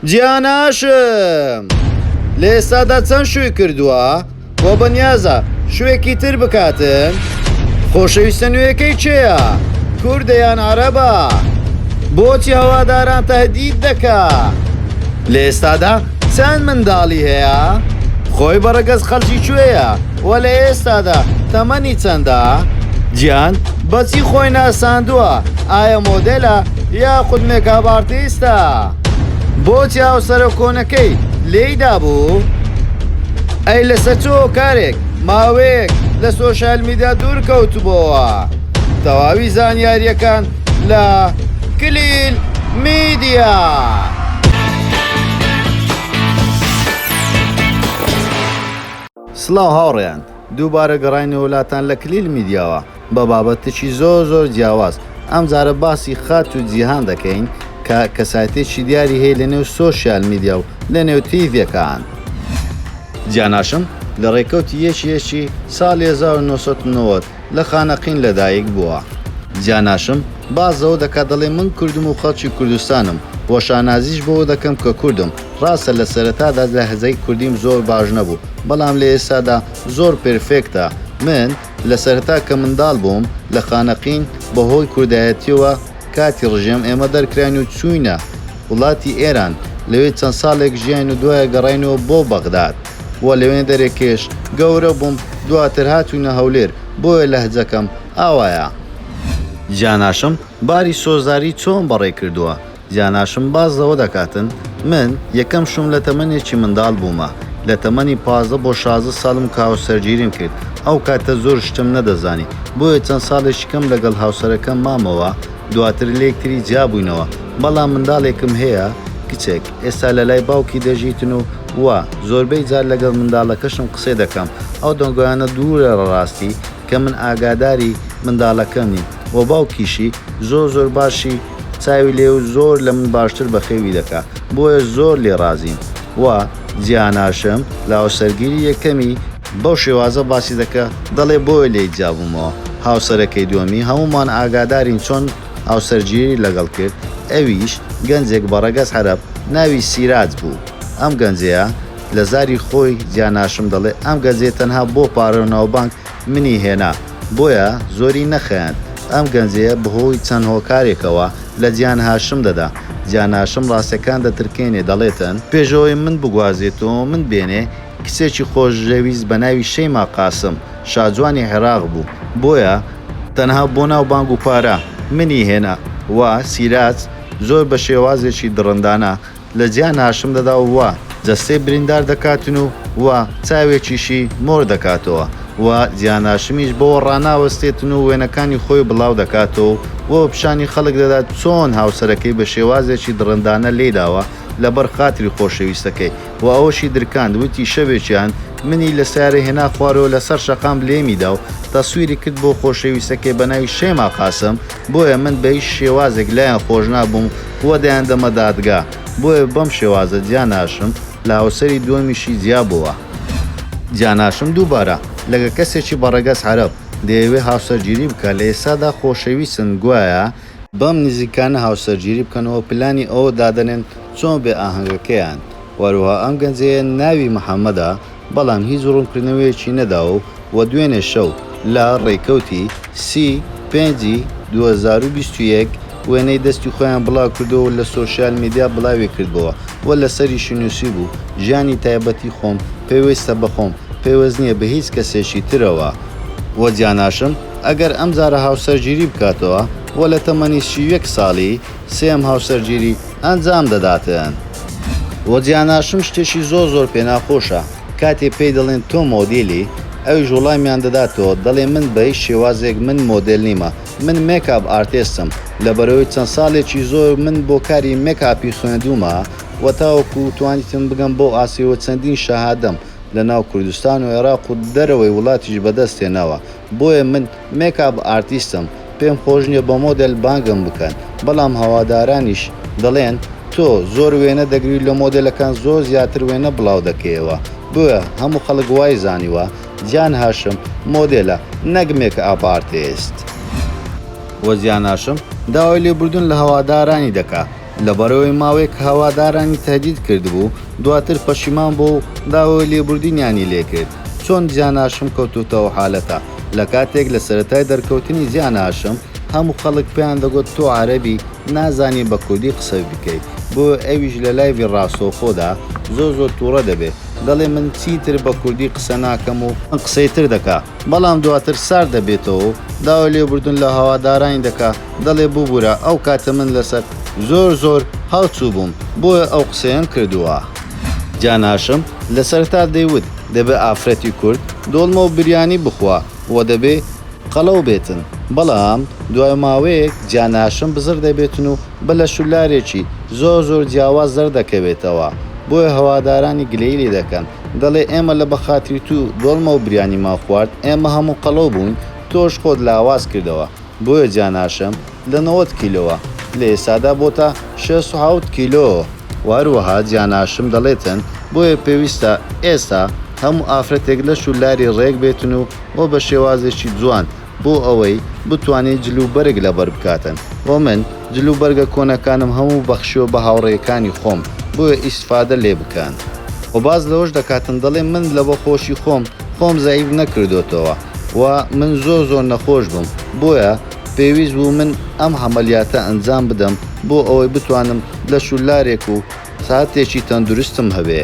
جیاناشم لەئێستادا چەند شووی کردووە بۆ بەنیازە شوێکی تر بکاتن خۆشەویستە نوێەکەی چێە کوردەیان عربە بۆچی هەواداران تهدید دەکا لەئێستادا چەند منداڵی هەیە خۆی بەڕگەز خەلکی کوێە وە لە ئێستادا تەمەنی چەندە جیان بەچی خۆی ناساندووە ئایا مۆدلە یا خودمێکابارتیستە بۆ چاوسەرۆ کۆنەکەی لێیدا بوو ئەی لەسەر چۆ کارێک ماوەیەک لە سۆشال میدا دوور کەوتبووەوە تەواوی زانیاریەکان لە کلیل میدیا. سڵاو هاوڕێیان دووبارە گەڕاینە وولاتان لە کلیل میدیاوە بە بابەتکی زۆر زۆر جیاواز ئەم جارە باسی خاتوو جیهان دەکەین کە کەسایتێکی دیاری هەیە لە نێو سۆشیال میدیا و لە نێو تیڤێکان جیاناشم لە ڕێکەوتی یەکی یەکی ساڵی هەزار و نۆ سەد و نەوەد لە خانەقین لە دایک بووە. جیاناشم باس لەوە دەکات دەڵێ من کوردم و خەڵکی کوردستانم و شانازیش بەوە دەکەم کە کوردم ڕاستە لە سەرەتادا لەهجەی کوردیم زۆر باش نەبوو بەڵام لە ئێستادا زۆر پێرفێکتە من لە سەرەتا کە منداڵ بووم لە خانەقین بە هۆی کوردایەتیەوە کاتی ڕژێم ئێمە دەرکراین و چووینە وڵاتی ئێران لەوێ چەند ساڵێک ژیاین و دوایە گەڕاینەوە بۆ بەغداد و لەوێ دەرێکێش گەورە بووم دواتر هاتووینە هەولێر بۆیە لەهجەکەم ئاوایە. جاناشم باری سۆزداری چۆن بەڕێ کردووە؟ جاناشم باس زەوە دەکاتن من یەکەم شوم لە تەمەنێکی مندال بومە لە تەمەنی پازدە بۆ شازدە سالم کە هاوسەرگیریم کرد ئەو کاتە زۆر شتم نەدەزانی بۆیە چەند سالێکی کەم لەگەڵ هاوسەرەکەم مامەوە دواتر لێکتری جیابوینەوە بەڵام مندالێکم هەیە کچێک ئێستا لە لای باوکی دەژیتن و وا زۆربەی جار لەگەڵ مندالەکەشم قسەی دەکەم ئەو دەنگۆیانە دورە لە راستی کە من ئاگاداری مندالەکەمی و باوکیشی زۆر زۆر باشی چاوی لێ و زۆر لە من باشتر بەخێوی دەکا بۆیە زۆر لێ رازیم و جیاناشم لە هاوسەرگیری یەکەمی بەو شێوازە باسی دەکا دەڵێ بۆیە لێی جیابومەوە هاوسەرەکەی دوەمی هەمومان ئاگادارین چۆن هاوسەرگیری لەگەڵ کرد ئەویش گەنجێک بە رەگەز حەرەب ناوی سیراج بوو ئەم گەنجەیە لە زاری خۆی جیاناشم دەڵێ ئەم گەنجەی تەنها بۆ پارەو ناوبانگ منی هێنا بۆیە زۆری نەخەیاند ئەم گەنجەیە بەهۆی چەند هۆکارێکەوە لە جیان هاشم دەدا جیاناشم ڕاستەکان دەترکێنێ دەڵێتن پێشەوەی من بگوازێتۆ من بێنێ کچێکی خۆشەویست بەناوی شەیما قاسم شاجوانی عێراق بوو بۆیە. تەنها بۆ ناو بانگ و پارە منی هێنا وە سیراج زۆر بە شێوازێکی دڕندانە لە جیا ناشم دەدا و جەستەی بریندار دەکاتن و وە چاوێکیشی مۆر دەکاتەوە و جیا ناشمیش بەوە ڕاناوەستێتن و وێنەکانی خۆی بڵاو دەکاتەوە و بە پیشانی خەڵک دەدات چۆن هاوسەرەکەی بە شێوازێکی دڕندانە لێی داوە لە بەر خاتری خۆشەویستەکەی و ئەوەشی درکاند وتی شەوێکیان منی لە سەیارە هێنا خوارەوە لە سەر شەقام لێمی دا و تەسویری کرد بۆ خۆشەویستەکەی بە ناوی شەیما قاسم بۆیە من بە هیچ شێوازێک لایان خۆش نابووم و دەیاندەمە دادگا، بۆیە بەم شێوازە جیا ناشم لە هاوسەری دووەمیشی جیا بۆوە. جیا ناشم دووبارە لەگە کەسێکی بە ڕەگەز عەرەب دەیەوێ هاوسەرگیری بکا لە ئێستادا خۆشەویستن گوایە، بەم نزیکانە هاوسەرگیری بکەن و پلانی ئەوە دادەنێن چۆن بێ ئاهەنگەکەیان وەروەها ئەم گەنجەیە ناوی محەمەدە، بەڵام هیچ ڕوونکردنەوەیەکی نەداوە و دوێنێ شەو لە ڕێکەوتی سی پێنج ی دوو هەزار و بیست و یەک وێنەی دەستی خۆیان بڵاوکردەوە و لە سۆشیال میدیا بڵاویکردبۆوە و لەسەریشی نووسیبوو ژیانی تایبەتی خۆم پێویستە بە خۆم پێوست نییە بە هیچ کەسێکی ترەوە و جیاناشم ئەگەر ئەمجارە هاوسەرگیری بکاتەوە و لە تەمەنی سی و یەک ساڵی سێیەم هاوسەرگیری ئەنجام دەداتن. وە جیاناشم شتێکی زۆر زۆر پێ ناخۆشە کاتێ پێی دەڵێن تۆ مۆدیلی ئەویش وڵامیان دەداتەوە دەڵێ من بە هیچ شێوازێک من مۆدێل نیمە من مێکاپ ئارتێستم لەبەرەوەی چەند ساڵێکی زۆر من بۆ کاری مێکاپی خوێندومە وە تاوەکو توانیتم بگەم بەو ئاستەی وە چەندین شەهادەم لەناو کوردستان و عێراق و دەرەوەی وڵاتیش بەدەست هێناوە بۆیە من مێکاپ ئارتیستم پێم خۆش نیە بە مۆدێل بانگم بکەن بەڵام هەوادارانیش دەڵێن تۆ زۆر وێنە دەگری لە مۆدێلەکان زۆر زیاتر وێنە بڵاو دەکەیەوە بۆیە هەموو خەڵک وای زانیوە جان هاشم مۆدێلە نەک مێکئاپ ئارتێست. وە جان هاشم داوای لێبوردن لە هەوادارانی دەکا لەبەرئەوەی ماوەیەک هەوادارانی تەهدید کردبوو، دواتر پەشیمان بووە و داوای لێبوردنیانی لێکرد. چۆن جیان هاشم کەوتۆتە ئەو حالەتە؟ لەکاتێک لە سەرەتای دەرکەوتنی جیان هاشم هەموو خەڵک پێیان دەگۆت تۆ عەرەبی نازانی بە کوردی قسە بکەیت بۆیە ئەویش لە لایڤی ڕاستەوخۆدا زۆر زۆر توڕە دەبێت دەڵێت من چیتر بە کوردی قسە ناکەم و قسەی تر دەکا. بەڵام دواتر سارد دەبێتەوە و داوای لێبوردن لە هەوادارانی دەکا، دەڵێ ببورە ئەو کاتە من لەسەر زۆر زۆر هاوچوو بووم بۆیە ئەو قسەیەم کردووە. جان هاشم لە سەرەتا دەیوت دەبێ ئافرەتی کورد دۆڵمە و بریانی بخوا و دەبێ قەڵەو بێتن، بەڵام دوای ماوەیەک جان هاشم بزڕ دەبێتن و بە لەش و لارێکی زۆر زۆر جیاواز دەردەکەوێتەوە، بۆیە هەوادارانی گلەیی لێ دەکەن. دەڵێ ئێمە لە بەخاتری تو دۆڵمەو بریانی مان خوارد ئێمە هەموو قەڵەو بووین تۆش خۆت لاواز کردەوە بۆیە جاناشم لە نەوەد کیلۆوە لە ئێستادا بۆتە شەست و حەوت کیلۆ و هەروەها جاناشم دەڵێتن بۆیە پێویستە ئێستا هەموو ئافرەتێک لەش و لاری ڕێک بێتن و وە بە شێوازێکی جوان بۆ ئەوەی بتوانێت جل و بەرگ لەبەر بکاتن وە من جل و بەرگە کۆنەکانم هەموو بەخشیوە بە هاوڕێکانی خۆم بۆیە ئیسفادە لێ بکەن. وە باس لەوەش دەکاتن دەڵێ من لەبە خۆشی خۆم خۆم زەعیف نەکردۆتەوە وە من زۆر زۆر نەخۆش بم بۆیە پێویست بوو من ئەم هەمەلیاتە ئەنجام بدەم بۆ ئەوەی بتوانم لەش و لارێک و ساتێکی تەندروستم هەبێ.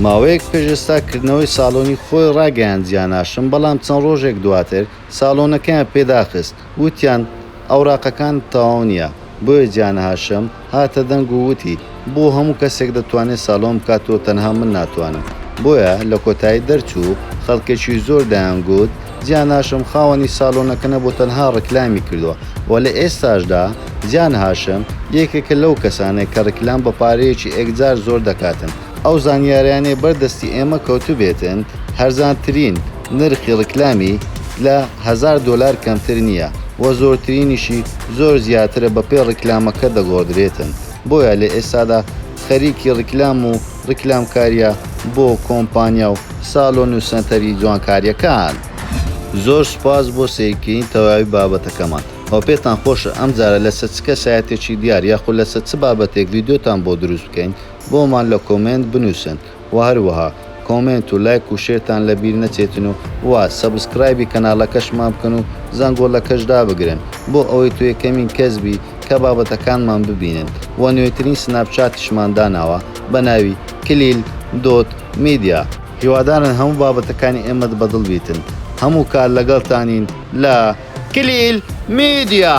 ماوەیەک پێش ئێستا کردنەوەی ساڵۆنی خۆی ڕاگەیاند جیاناشم بەڵام چەند ڕۆژێک دواتر ساڵۆنەکەیان پێ داخست وتیان ئەوراقەکانت تەواو نیە بۆیە جیانهاشم هاتە دەنگ و وتی بۆ هەموو کەسێک دەتوانێ ساڵۆن بکات و تەنها من ناتوانم بۆیە لە کۆتایی دەرچوو خەڵکێکی زۆر دەیان گوت جیا ناشم خاوەنی سالۆنەکە نەبوو تەنها ڕیکلامی کردووە و لە ئێستاشدا جان هاشم یەکێکە لەو کەسانەی کە ڕیکلام بە پارەیەکی ئێکجار زۆر دەکاتن ئەو زانیاریانەی بەر دەستی ئێمە کەوتبێتن هەرزانترین نرخی ڕیکلامی لە هەزار دۆلار کەمتر نییە و زۆرترینیشی زۆر زیاترە بەپێی ڕیکلامەکە دەگۆڕدرێتن بۆیە لە ئێستادا خەریکی ڕیکلام و ڕیکلامکاریە بۆ کۆمپانیا و سالۆن و سەنتەری جوانکاریەکان. زۆر سوپاس بۆ سەیرکردنی تەواوی بابەتەکەمان ئەوە پێتان خۆشە ئەمجارە لەسەر چ کەسایەتێکی دیار یاخود لەسەر چ بابەتێک ڤیدیۆتان بۆ دروست بکەین بۆمان لە کۆمێنت بنوسن وە هەروەها کۆمێنت و لایک و شێرتان لەبیر نەچێتن و وە سەبسکرایبی کەناڵەکەشمان بکەن و زەنگۆڵەکەش دابگرن بۆ ئەوەی تۆ یەکەمین کەس بی تکا بابەتەکانمان ببینن وە نوێترین سناپ چاتیشمان داناوە بە ناوی، کلیل دۆت میدیا. هیوادارن هەموو بابەتەکانی ئێمەت بە دڵ بیتن هەموو کات لەگەڵتانین لە، کلیل میدیا.